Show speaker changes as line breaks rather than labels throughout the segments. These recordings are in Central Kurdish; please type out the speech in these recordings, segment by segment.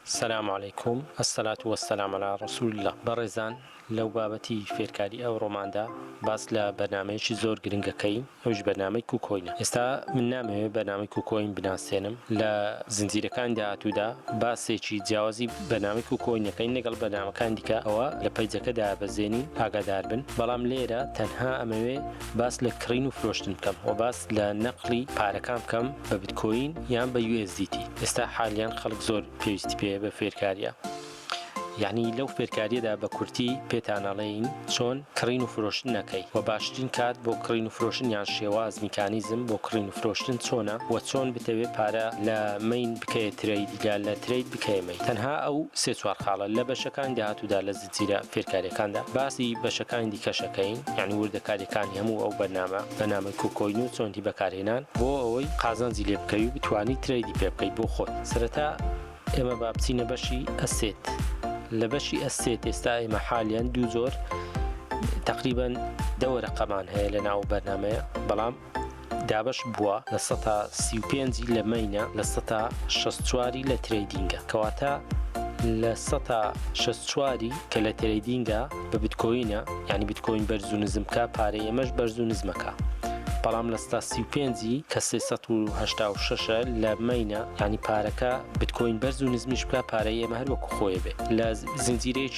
سلام علیکم الصلاة و السلام علی رسول اللە بەڕێزان لەو بابەتی فێرکاری ئەوڕۆماندا باس لە بەرنمەیەکی زۆر گرنگە کەین ئەوش بەرنمەی کوکۆینە ئێستا من نامەوێت بەرنامی کوکۆین بناسێنم لە زنجیرەکان داهاتوودا باسێکی جیاوازی بەنامی کوکۆینەکەین لەگەڵ بەنامەکان دیکە ئەوە لە پەیجەکەدا بەزێنین ئاگادار بن بەڵام لێرە تەنها ئەمەوێ باس لە کڕین و فرۆشتن بکەم و باس لە نەقلی پارەکان بکەم بە بتکۆین یان بە USDT ئێستا حالیان خەڵک زۆر پێویستی پێ بە فێرکاریە یعنی لەو فێرکاریەدا بە کورتی پێتانەڵین چۆن کڕین و فرۆشتن نەکەی و باشترین کات بۆ کڕین و فرۆشن یان شێواز میکانیزم بۆ کڕین و فرۆشتن چۆنە و چۆن بتەوێت پارە لە مین بکەیە ترەیدگە لە ترەید بکەێمەی تەنها ئەو سێ چوار خاڵە لە بەشەکانی داهاتوودا لە زیرە فێرکاریەکاندا باسی بەشەکانی دیکەشەکەین یعنی وردەکاریەکانی هەموو ئەو بەرنامە بەنامەی کۆکۆین و چۆنی بەکارهێنان بۆ ئەوەی قازانجی لێ بکەوی بتانی ترەیدی پێ بکەیت بۆ خۆت سەرەتا ئێمە با بچینە بەشی ئەسێت لە بەشی ئەسێت ئێستا ئێمە حالیان دوو زۆر تقریبان دەوەرە قەمان هەیە لە ناو بەرنمەیە بەڵام دابەش بووە لە سەتا سی و پێنج ی لە مەینە لە سەتا شەست چوار ی لە ترەیدینگە کەواتە لە سەتا شەست چوار ی کە لە ترەیدینگە بە بتکۆینە یانی بتکۆین بەرز و نزم کا پارەی ئێمەش بەرز و نزمەکا بەڵام لە سەتا سی و پێنج ی کە سێ سەد و هەشتا و شەش ە لە مەینە یانی پارەکە بتکۆین بەرز و نزمیش بکا پارەی ئێمە هەر وەکو خۆێ بێ لە زنجیرەیەکی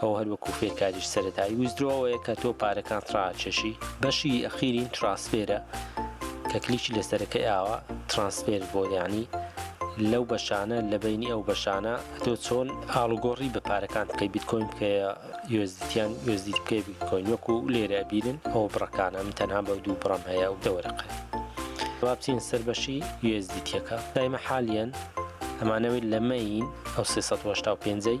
ئەو هەر وەکو فێرکاریی سەرەتایی ویزدرۆوەیە کە تۆ پارەکانت ڕاکێشی بەشی ئەخیرین ترانسفێرە کە کلیکی لەسەرەکەی ئاوا ترانسفێر بۆ یعنی لەو بەشانە لە بینی ئەو بەشانە تۆ چۆن ئاڵوگۆڕی بە پارەکان بکەی بیتکۆین بکەیە یۆزدیتیان یۆزدی بکەی بیتکۆین وەکو لێرە بینن ئەو بڕەکانە من تەنها بە دوو بڕم هەیە ئەو دەوەرەقە وابچین سەر بەشی یۆزدیتیەکە دایمە حالیان ئەمانەوەی لەمەین ئەو 385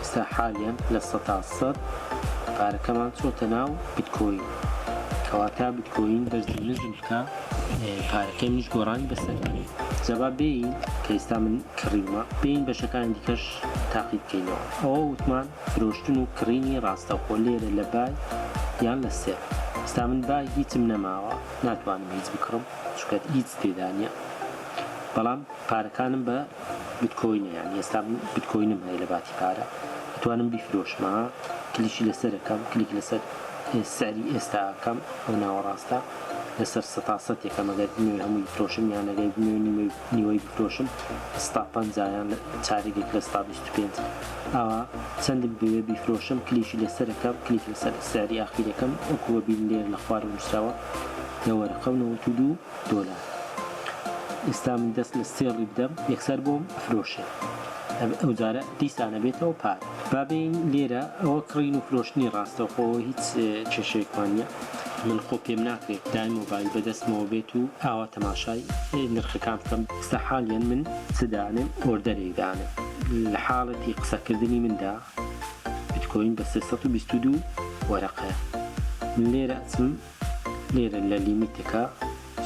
ئێستا حالیەن لە سەتا سەد پارەکەمان چۆتە ناو بیتکۆین کەواتا بیتکۆین بەرزی نزم بکە پارەکەی منش گۆڕانی بەسەر جەبا بێین کە ئێستا من کڕیومە بێین بەشەکانی دیکەش تاقی بکەینەوە ئەوە وتمان فرۆشتن و کڕینی ڕاستەخۆ لێرە لە بای یان لە سێر ئێستا من بای هیچم نەماوە ناتوانم هیچ بکڕم چکەت هیچ تێدانە بەڵام پارەکانم بە بتکۆینە یانی ئێستا بتکۆینم هەیە لە باتی پارە ئەتوانم بیفرۆشمە کلیکی لەسەر ئەکەم کلیک لەسەر سعری ئێستا ئەکەم ئەو ناوەڕاستە لەسەر سەتا سەت یەکەم ئەگەر بمەوێ هەمووی بفرۆشم یان ئەگەر بمەوێ نیوەی نیوەی بفرۆشم سەتا پەنجا یان چارێکێک لە سەتا بیست و پێنج ئاوا چەندم بوێ بیفرۆشم کلیکی لەسەر ئەکەم کلیک لەسەر سعری ئاخیرەکەم وەکووە بین لێر لە خوارەوە نووسراوە لە وەرەقە و نەوەت و دوو دۆلار ئیستا من دەست لە سێڵی بدەم یەکسەر بۆم ئەفرۆشێ ئەو جارە دیسان ئەبێتەوە پار با بێین لێرە ئەوە کڕین و فرۆشتنی ڕاستە خۆ هیچ کێشەیەکمان نیە من خۆ پێم ناکرێت دای مۆبایل بەدەستمەوە بێت و ئاوا تەماشای نرخەکان بکەم ئیستا حالیەن من چ دانێم ئۆردەرێک دانێم لە حاڵەتی قسەکردنی مندا بیتکۆین بە سێ سەد و بیست و دوو وەرەقەیە من لێرە ئەچم لێرە لە لیمیتەکە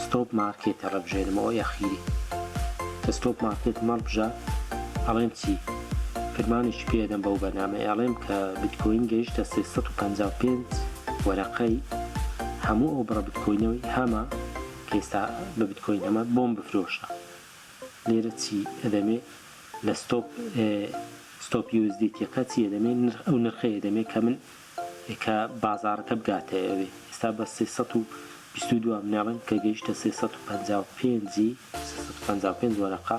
ستۆپ مارکێت هەڵەبژێرمەوە یەخیری کە ستۆپ مارکێتم هەڵبژا ئەڵێم چی فرمانێکی پێ ئەدەم بەو بەرنامەیە ئەڵێم کە بیتکۆین گەیشتە سێ سەد و پەنجا و پێنج وەرەقەی هەموو ئەو بڕە بیتکۆینەی هەمە کە ئێستا بە بیتکۆین هەمە بۆم بفرۆشە لێرە چی ئەدەمێ لە ستۆپ ستۆپ یوزدیتیەکە چی ئەدەمێ ئەو نرخەی ئەدەمێ کە من کە بازاڕەکە بگاتە ئەوێ ئێستا بە سێ سەد و بیست و دوو ئەمنێڵن کە گەیشتە سێ سەد و پەنجا و پێنج سێ سەد و پەنجا و پێنج وەرەقە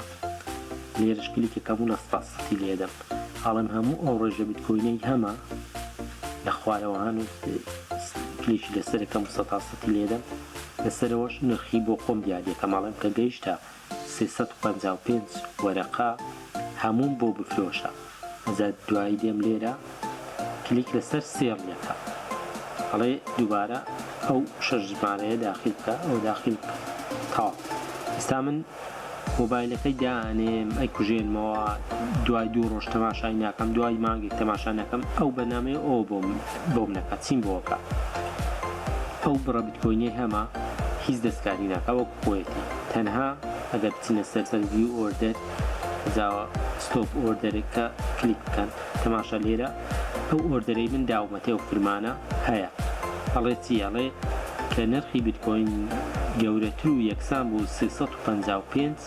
لێرەش کلیکێک هەبوو لە ستا سەتی لێدەم ئەڵێم هەموو ئەو ڕێژە بیتکۆینەی هەمە لە خوارەوە هەن و کلیکی لەسەرەکەم سەتا سەتی لێدەم لەسەرەوەش نرخی بۆ خۆم دیاریەکەم ئەڵێم کە گەیشتە سێ سەد و پەنجا و پێنج وەرەقە هەمووم بۆ بفرۆشە ئەجا دوایی دێم لێرە کلیک لەسەر سێڕیە کە ئەڵێ دوبارە ئەو شەش ژمارەیە داخیل بکە ئەوە داخیل بکە تەواو ئێستا من مۆبایلەکەی دانێم ئەی کوژێنمەوە دوای دوو ڕۆژ تەماشای ناکەم دوای مانگێک تەماشا نەکەم ئەو بەنامەیە ئەو بۆم بۆم نەکە چیم بۆکە ئەو بڕە بتکۆینەی هەمە هیچ دەستکاری ناکە وەک خۆیەتی تەنها ئەگەر بچنە سەر بەس ڤیو ئۆردەر جاوا ستۆپ ئۆردەرەکە کلیک بکەن تەماشا لێرە ئەو ئۆردەرەی من داومەتێ و فرمانە هەیە ئەڵێ چی ئەڵێ کە نرخی بیتکۆین گەورەتر و یەکسان بوو سێ سەد و پەنجا و پێنج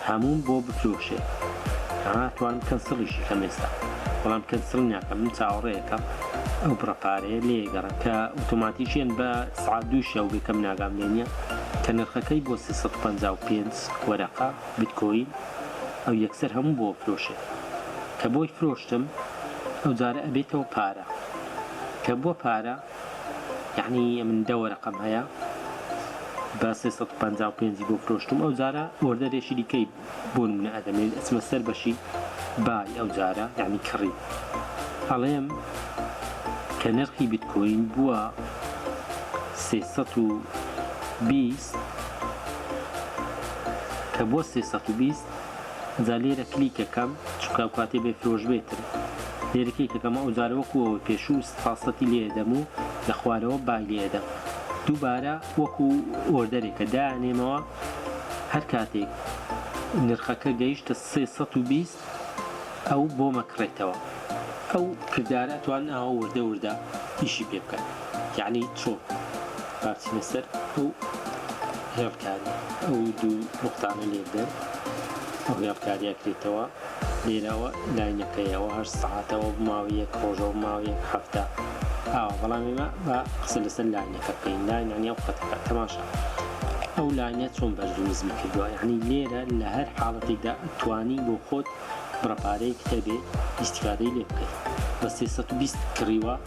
هەمووم بۆ بفرۆشێ ها توانم کەنسڵیشی کەم ئێستا بەڵام کەنسڵی ناکەم من چاوەڕێیەکەم ئەو بڕە پارەیە لێگەڕێم کە ئۆتۆماتیکیەن بە سعات دوو شەو بێ کەم ناگام لێنیە کە نرخەکەی بووە سێ سەد و پەنجا و پێنج وەرەقە بتکۆین ئەو یەکسەر هەموو بۆ فرۆشێت کە بۆی فرۆشتم ئەو جارە ئەبێتەوە پارە کە بووە پارە یعنی من دە وەرەقەم هەیە بە سێ سەد و پەنجا و پێنج بۆ فرۆشتم ئەو جارە ئۆردەرێکی دیکەی بۆ نمونە ئەدەمێ ئەچمە سەر بەشی با ی ئەو جارە یانی کڕیم ئەڵێم کە نرخی بیتکۆین بووە سێ سەد و بیست کە بووە سێ سەد و بیست جا لێرە کلیکەکەم چونکە ئەو کاتێ بێ فرۆش بێتن لێرە کلیکەکەم ئەو جارە وەکوەوە پێشوو سەتی لێدەم و لە خوارەوە بای لێدەم دووبارە وەکو ئۆردەرێکە دایانێمەوە هەر کاتێک نرخەکە گەیشتە سێ سەد و بیست ئەو بۆمە کڕێتەوە ئەو کردارە ئەتوان ئەوە وردە وردە ئیشی پێ بکەن یعنی چۆن باسینە سەر ئەو هێڵکاری ئەو دوو نقطانە لێبدەن ئەو هێڵکاریە کرێتەوە لێرەوە لای نەکەی ئەوە هەشت سەعاتە ئەوە بماوە یەک ڕۆژ ئەوە بماوە یەک هەفتە ئاوا بەڵام ئێمە با قسە لەسەر لاینەکە بکەین لاین یانی ئەو خەتەکە تەماشا ئەو لاینە چۆن بەرز و نزمی کردووە یعنی لێرە لە هەر حاڵەتێکدا توانی بۆ خۆت بڕەپارەیەکت هەبێ ئیستیفادەی لێ بکەی بە سێ سەد و بیست کڕیوە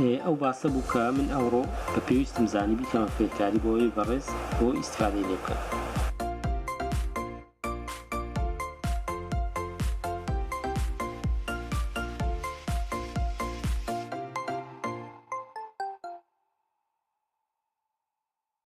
ئێ ئەو باسە بوو کە من ئەوڕۆ بە پێویستم زانی بیکەمە فێرکاری بۆ ئەوەی بەڕێز بۆ ئیستفادەی لێ بکەن.